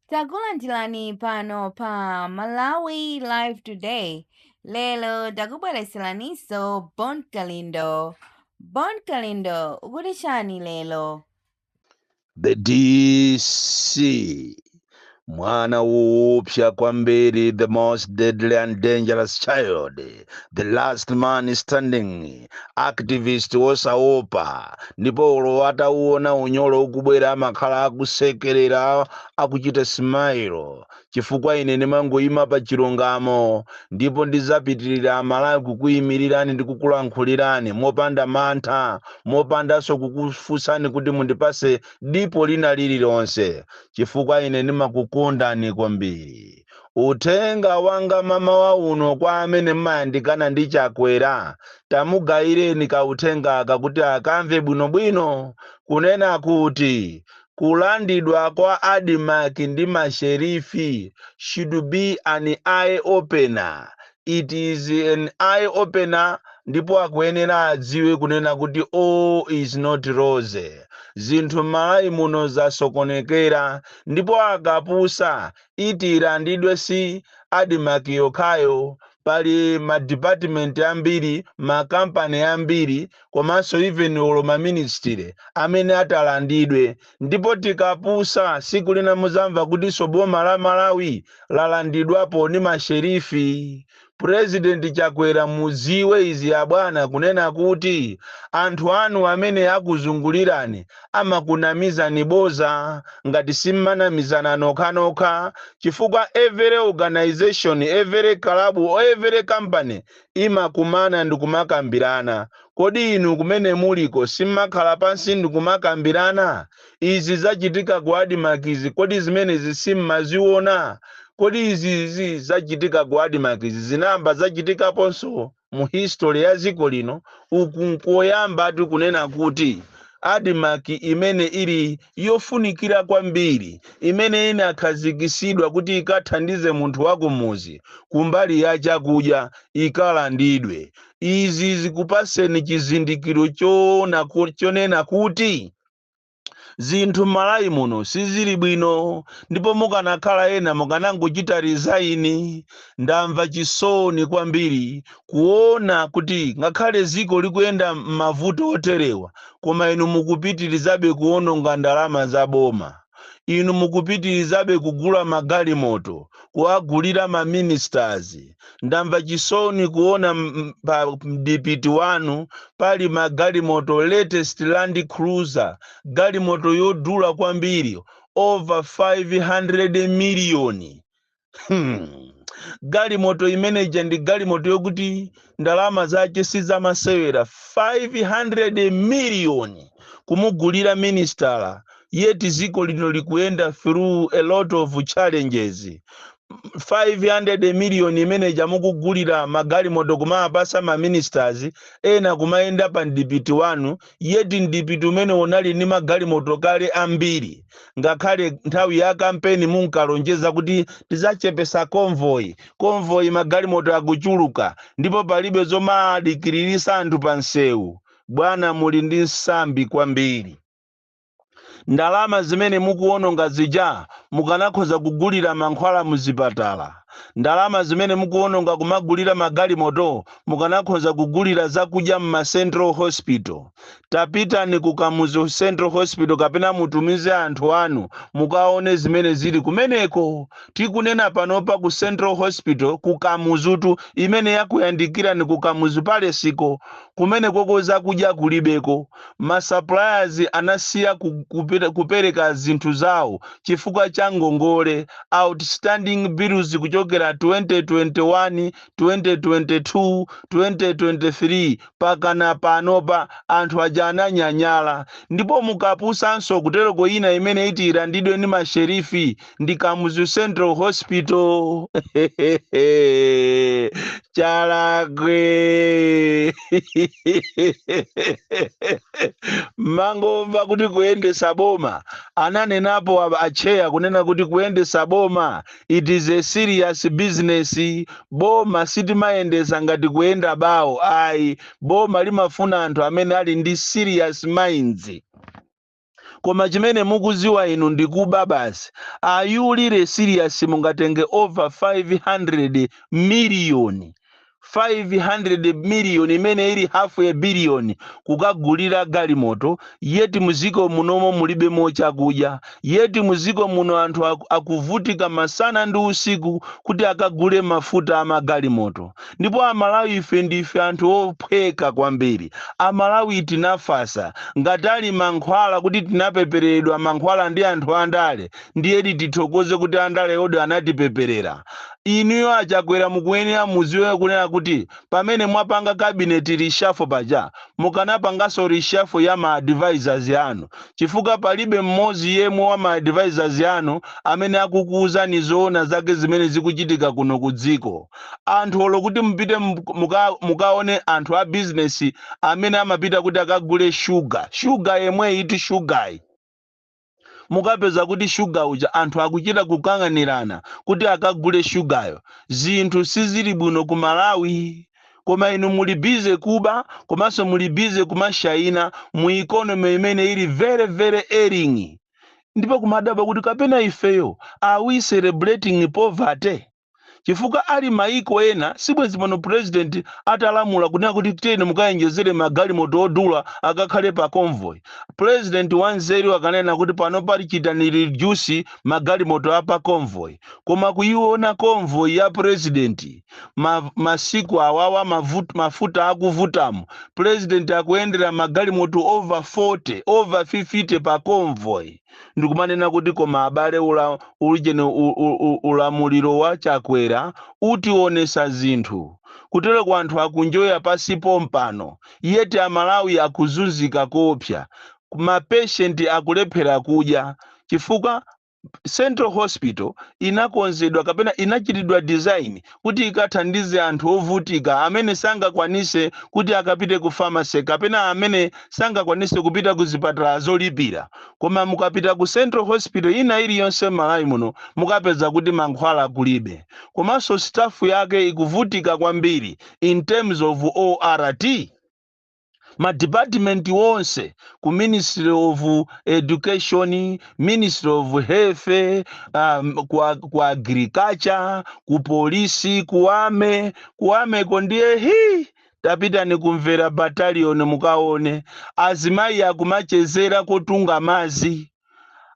Takulandirani pano pa Malawi Live Today. Lero takubweretseraniso Bon Kalindo. Bon Kalindo akuti chani lero? The DC mwana woopsa kwambiri the most deadly and dangerous child the last man standing activist wosaopa ndipo olo atauona unyolo ukubwera amakhala akusekerera akuchita smile chifukwa ine ndimangoyima pa chilungamo ndipo ndizapitirira amalawi kukuyimirirani ndi kukulankhulirani mopanda mantha mopandanso kukufunsani kuti mundipase dipo lina lililonse chifukwa ine ndimakukondani kwambiri Uthenga wanga mamawa uno kwa amene mmayandikana ndi Chakwera, tamugayireni ka uthengaka kuti akamve bwinobwino, kunena kuti kulandidwa kwa Admarc ndi ma Sherifi should be an eye opener, it is an eye opener ndipo akuyenera adziwe kunena kuti all is not rosy, zinthu Mmalawi muno zasokonekera ndipo akapusa iti ilandidwe si Admarc yokhayo, pali ma department ambiri, ma company ambiri komanso even olo ma ministry amene atalandidwe ndipo tikapusa siku lina muzamva kutinso boma la Malawi lalandidwapo ni ma sheriff President Chakwera muziwe izi abwana kunena kuti anthu anu amene akuzungulirani amakunamizani boza ngati simmanamizana nokhanokha chifukwa every organisation every club or every company imakumana ndikumakambirana kodi inu kumene muliko simmakhala pansi ndikumakambirana Izi zachitika ku Admarc izi, kodi zimenezi simmaziona? Kodi izi izi zachitika ku Admarc izi zinayamba zachitikaponso mu history ya dziko lino? Uku nkoyambatu kunena kuti Admarc imene ili yofunikira kwambiri, imene inakhazikitsidwa kuti ikathandize munthu wakumudzi kumbali ya chakudya, ikalandidwe. Izi zikupatseni chizindikiro choona ku, chonena kuti. zinthu m'malawi muno sizili bwino ndipo mukanakhala ena mukanangochita rizaini ndamva chisoni kwambiri kuona kuti ngakhale ziko likuyenda m'mavuto oterewa koma inu mukupitirizabe kuononga ndalama za boma inu mukupitirizabe kugula magalimoto, kuwagulira ma ministers. Ndamva chisoni kuona m- m- pa mdipiti wanu pali magalimoto latest Land Cruiser, galimoto yodula kwambiri over 500 miliyoni. Hmm. galimoto imene ija ndi galimoto yokuti ndalama zake sizamasewera 500 miliyoni kumugulira minisitala yeti ziko lino likuyenda through a lot of challenges 500 miliyoni imene ija mukugulira magalimoto kumawapasa ma ministers ena kumayenda pa mdipiti wanu yeti mdipiti umene unali ndi magalimoto kale ambiri ngakhale nthawi ya kampeni munkalonjeza kuti tidzachepesa convoy convoy magalimoto akuchuluka ndipo palibe zomadikiriritsa anthu pa msewu bwana muli ndi msambi kwambiri ndalama zimene mukuwononga zija mukanakhoza kugulira mankhwala muzipatala ndalama zimene mukuwononga kumagulira magalimoto mukanakhoza kugulira zakudya m'ma central hospital tapitani ku kamuzu central hospital kapena mutumize anthu anu mukaone zimene zili kumeneko tikunena panopa ku central hospital ku kamuzutu imene yakuyandikirani ku kamuzu palesiko kumenekoko zakudya kulibeko masuppliers anasiya ku- kupita- kupereka zinthu zawo chifukwa cha ngongole outstanding bills kuchokera 2021 2022 2023 pakana panopa anthu aja ananyanyala ndipo mukapusanso kutereko ina imene iti ilandidwe ndi ma sheriff ndi Kamuzu Central Hospital hehehe chalakwe mmangomva kuti kuyendesa boma ananenapo a chair kunena kuti kuyendesa boma it is a serious business boma sitimayendesa ngati kuyenda bawo ayi boma limafuna anthu amene ali ndi serious minds koma chimene mukuziwa inu ndikuba basi are you really serious mungatenge over 500 miliyoni 500 million imene ili half a billion kukagulira galimoto yeti muziko munomo mulibe chakudya yeti muziko muno anthu aku- akuvutika masana ndi usiku kuti akagule mafuta a magalimoto ndipo amalawi ife ndife anthu ophweka kwambiri amalawi tinafasa ngati ali mankhwala kuti tinapepereredwa mankhwala ndi anthu andale ndiyedi tithokoze kuti andale odi anatipeperera Inuyo a Chakwera mukuyenera muziwe kunena kuti pamene mwapanga cabinet reshuffle paja mukanapanganso reshuffle ya ma advisors anu chifukwa palibe mmodzi yemwe wa ma advisors anu amene akukuuzani zoona zake zimene zikuchitika kuno ku dziko. Anthu olo kuti mupite mukaone anthu a business amene amapita kuti akagule sugar, sugar yemweyitu sugar yi. mukapeza kuti shuga uja anthu akuchita kukang'anirana kuti akagule shugayo zinthu sizili bwino ku malawi koma inu muli bize kuba komanso muli bize kumashayina mu ikonomi imene ili very very ailing ndipo kumadabwa kuti kapena ifeyo are we celebrating poverty chifukwa ali maiko ena sibwezi pano president atalamula kunena kuti tiyeni mukayenjezere magalimoto odula akakhale pa convoy president wanzeru akanena kuti pano tachitani reduce magalimoto a pa convoy koma kuiona convoy ya president ma, masiku awawa mavut, mafuta akuvutamo president akuyendera magalimoto over 40 over 50 pa convoy ndikumanena kuti koma abale ula, ujeni u- u- u- ulamuliro wa chakwera utionesa zinthu kutereku anthu akunjoya pansi pompano yet amalawi akuzunzika koopsa mapeshenti akulephera kudya chifukwa central hospital inakonzedwa kapena inachitidwa design kuti ikathandize anthu ovutika amene sangakwanise kuti akapite ku pharmacy kapena amene sangakwanise kupita ku zipatala zolipira. Koma mukapita ku central hospital ina iliyonse m'Malawi muno mukapeza kuti mankhwala kulibe. Komanso staff yake ikuvutika kwambiri in terms of ORT. ma department onse ku ministry of education ministry of health um, ku, ag- ku agriculture ku polisi ku army ku army ko ndiye hi tapitani ku Mvera battalion mukaone azimayi akumachezera kotunga mazi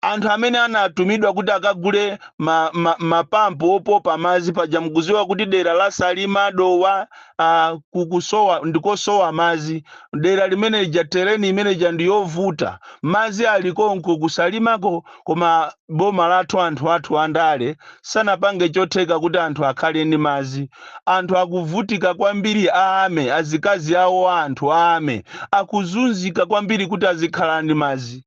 anthu amene anatumidwa kuti akagule ma, ma, mapampu opopa madzi paja mukuziwa kuti dera la salima dowa uh, kukusowa ndikosowa madzi dera limene lija terrain imene ija ndiyovuta madzi alikonko kusalimako koma boma lathu anthu athu andale sanapange chotheka kuti anthu akhale ndi madzi anthu akuvutika kwambiri a army azikazi awo a anthu a army akuzunzika kwambiri kuti azikhala ndi madzi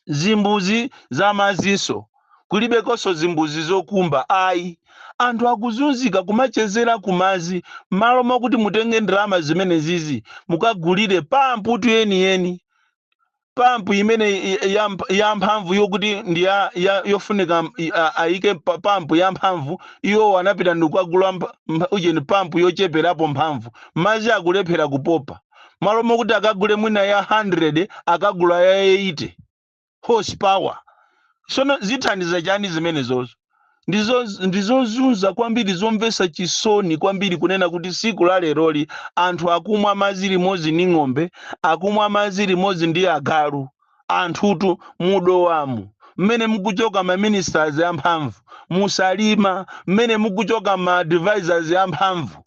zimbuzi za madzinso kulibekonso zimbuzi zokumba ayi anthu akuzunzika kumachezera kumadzi m'malo mwakuti mutenge ndalama zimenezizi mukagulire pamputu yeniyeni pampu imene i- i- ya mp- ya mphamvu yokuti ndi ya, ya yofunika m- i- a- ayike pa- pampu ya mphamvu iwo anapita ndikukagula mp- mp- ujeni pampu yocheperapo mphamvu madzi akulephera kupopa malo mokuti akagule mwina ya 100 akagula ya 80 horsepower sono zithandiza chani zimenezozo ndi zozunza kwambiri zomvetsa chisoni kwambiri kunena kuti siku la leroli anthu akumwa madzi limodzi ndi ng'ombe akumwa madzi limodzi ndi agalu anthutu mu Dowamu mmene mukuchoka ma ministers amphamvu mu Salima mmene mukuchoka ma advisors amphamvu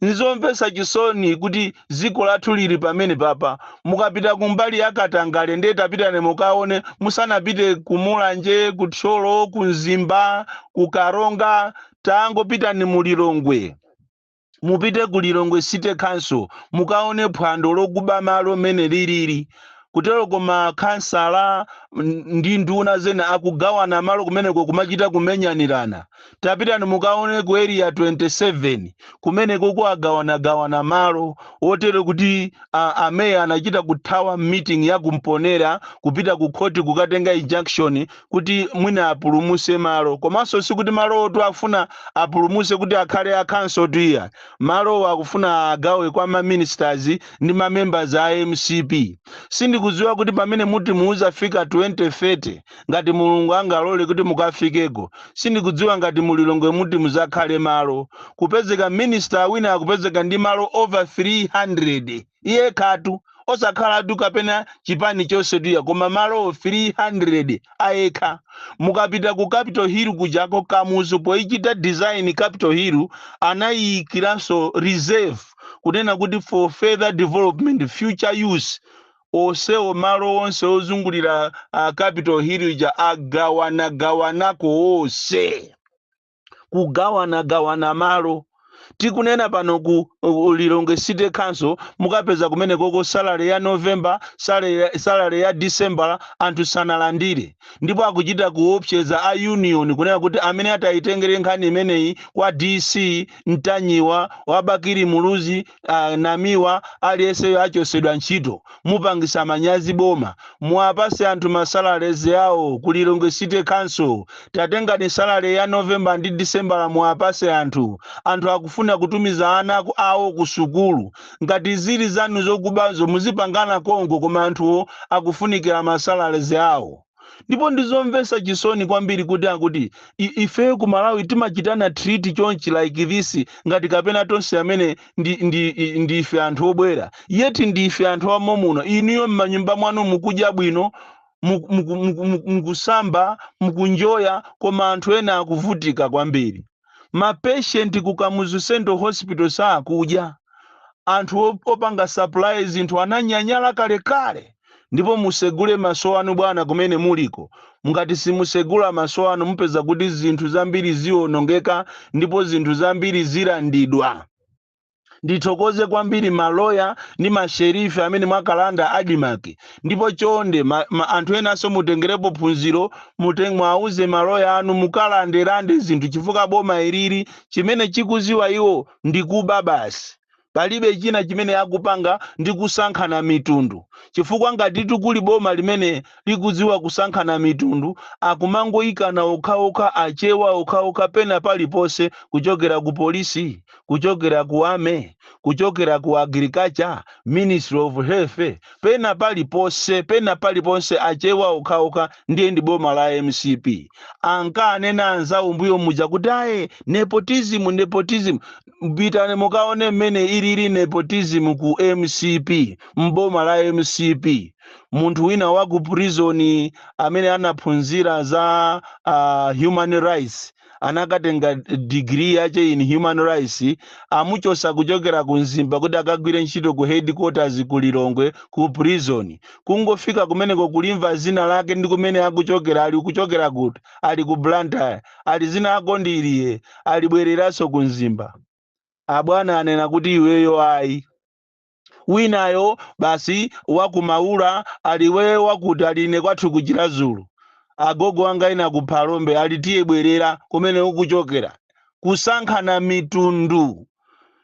Nzomvetsa chisoni kuti dziko lathu liri pamene papa. Mukapita kumbali ya katangale ndiye tapitani mukaone musanapite ku Mulanje, ku Thyolo, ku Mzimba, ku Karonga, tangopitani mu Lilongwe. Mupite ku Lilongwe City Council mukaone phwando lokuba malo mmene liriri. Kuteroko ma khansala ndi nduna zina akugawana malo kumeneko kumachita kumenyanirana. Tapitani mukaone ku Area 27, kumenekoko akugawanagawana malo oterewa kuti a, a meya anachita kuthawa meeting ya ku Mponera kupita ku khoti kukatenga injunction kuti mwina apulumutse malo. Komanso sikuti malowotu afuna apulumutse kuti akhale a counciltu iya. Malowo akufuna agawe kwa ma ministers ndi ma members a mcp. Sindikudziwa kuti pamene muti mudzafika 2030 ngati mulungu angalole kuti mukafikeko sindikudziwa ngati mu lilongwe muti muzakhale malo kupezeka minister wina akupezeka ndi malo over 300 yekhatu osakhalatu kapena chipani chonse tu iya koma malo 300 ayekha mukapita ku capital hill kujako kamuzu poichita design capital hill anayiyikiranso reserve kunena kuti for further development future use onsewo malo onse ozungulira a capital hill ija agawanagawanako onse kugawanagawana malo tikunena pano ku ku lilongwe city council mukapeza kumenekoko salary ya november salary ya- salary ya december anthu sanalandire ndipo akuchita kuopseza a union kunena kuti amene atayitengere nkhani imeneyi kwa dc mtanyiwa wa bakili muluzi anamiwa aliyeseyo achosedwa ntchito mupangisa manyazi boma muwapase anthu ma salaries awo ku lilongwe city council tatengani salary ya november ndi december muwapase anthu anthu akufuna kutumiza ana aku- awo ku sukulu ngati zili zanu zokubazo muzipangana konko koma anthuwo akufunikira ma salaries awo ndipo ndizomvesa chisoni kwambiri kuti akuti i- ifeyo ku malawi timachitana treat chonchi like this ngati kapena tonse amene ndi, ndi, i- ndi ife anthu obwera yet ndi ife anthu amomuno inuyo m'manyumba mwanu mukudya bwino muku- muku- muku- muku- mukusamba mukunjoya koma anthu ena akuvutika kwambiri ma patient ku kamuzu central hospital sakudya anthu op- opanga supply zinthu ananyanyala kalekale ndipo musegule maso anu bwana kumene muliko ngati simusegula maso anu mupeza kuti zinthu zambiri zionongeka ndipo zinthu zambiri zilandidwa ndithokoze kwambiri maloya ndi masherifi amene mwakalanda admarc ndipo chonde ma, ma, anthu enanso mutengerepo phunziro mute- mwauze maloya anu mukalandelande zinthu chifukwa boma ilili chimene akuziwa iwo ndi kuba basi palibe china chimene akupanga ndi kusankhana mitundu chifukwa ngatitu kuli boma limene likudziwa kusankhana mitundu akumangoyikana okhaokha achewa okhaokha pena paliponse kuchokera ku polisi kuchokera ku army kuchokera ku agriculture ministry of health pena paliponse pena paliponse achewa okhaokha ndiye ndi boma la mcp ankanena anzawo mbuyo muja kuti aye nepotism nepotism pitani mukaone mmene ilili nepotism ku mcp mboma la mcp munthu wina wa ku prison amene anaphunzira za uh, human rights anakatenga degree yache in human rights amuchosa kuchokera ku mzimba kuti akagwire ntchito ku headquarters ku lilongwe ku prison kungofika kumeneko kulimva zina lake ndi kumene akuchokera ali kuchokera kuti ali ku blantyre ali zina lako ndi iliye ali bwereranso ku mzimba abwana anena kuti iweyo ayi winayo basi wa ku maula ali iwe wakuti ali ine kwathu ku chirazulu agogo anga ena ku phalombe ali tiye bwerera kumene ukuchokera kusankhana mitundu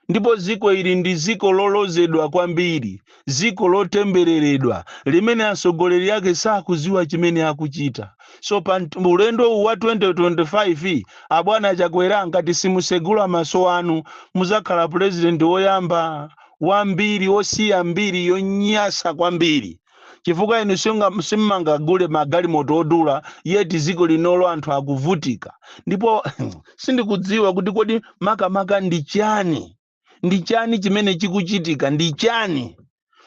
ndipo dziko ili ndi dziko lolozedwa kwambiri dziko lotembereredwa limene atsogoleri ake sakudziwa chimene akuchita so pa nt- ulendo uwu wa 2025 abwana chakwera ngati simusegula maso anu muzakhala purezidenti woyamba wa mbiri wosiya mbiri yonyasa kwambiri chifukwa inu simunga- simumangagule magalimoto odula yet dziko linolo anthu akuvutika ndipo sindikudziwa kuti kodi makamaka ndi chani ndi chani chimene chikuchitika ndi chani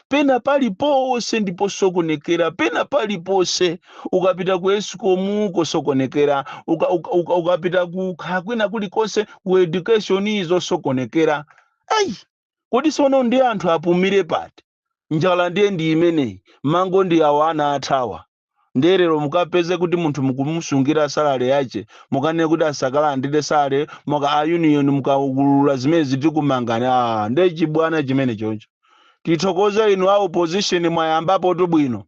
pena paliponse ndi posokonekera pena paliponse ukapita ku escom kosokonekera uka, uka, uka, ukapita ku kha- kwina kulikonse ku education zosokonekera Ayi! Kodi sono ndiye anthu apumire pati? Njala ndiye ndi imeneyi, mango ndi awa anathawa. Ndiye lero mukapeze kuti munthu mukumusungira salary yache, mukanene kuti asakalandire salary, muka a union mukaulula zimenezi tikumangani. Aaa! Ndiye chibwana chimenechocho. Tithokoze inu a opposition mwayambapotu bwino.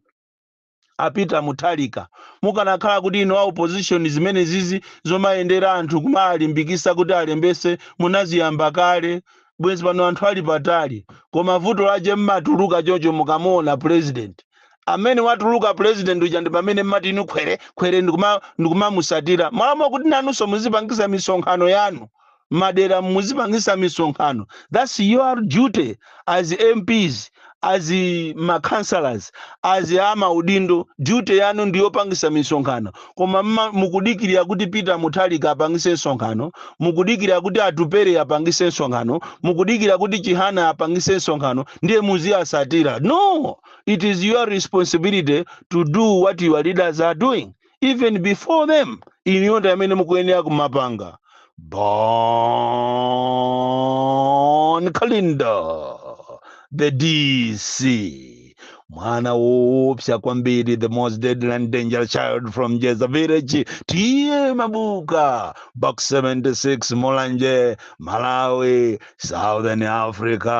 a peter muthalika mukanakhala kuti inu a opposition zimenezizi zomayendera anthu kumawalimbikisa kuti alembese munaziyamba kale bwezi pano anthu ali patali koma vuto lache mmatuluka chocho mukamuona president amene watuluka president uja ndi pamene mmati inu khwere khwere ndikuma ndikumamusatira mmalo mokuti nanunso muzipangisa misonkhano yanu madera muzipangisa misonkhano thats your duty as mps as ma councillors as amaudindo duty yanu ndiyopangisa misonkhano koma mma- mukudikirira kuti peter muthalika apangise msonkhano mukudikirira kuti atupere apangise msonkhano mukudikirira kuti chihana apangise msonkhano ndiye muziwasatira no it is your responsibility to do what your leaders are doing even before them inuyo ndi amene mukuyenera kumapanga bon kalindo the dc mwana woopsa kwambiri the most deadly and dangerous child from jeza village ta mabuka box 76 mulanje malawi southern africa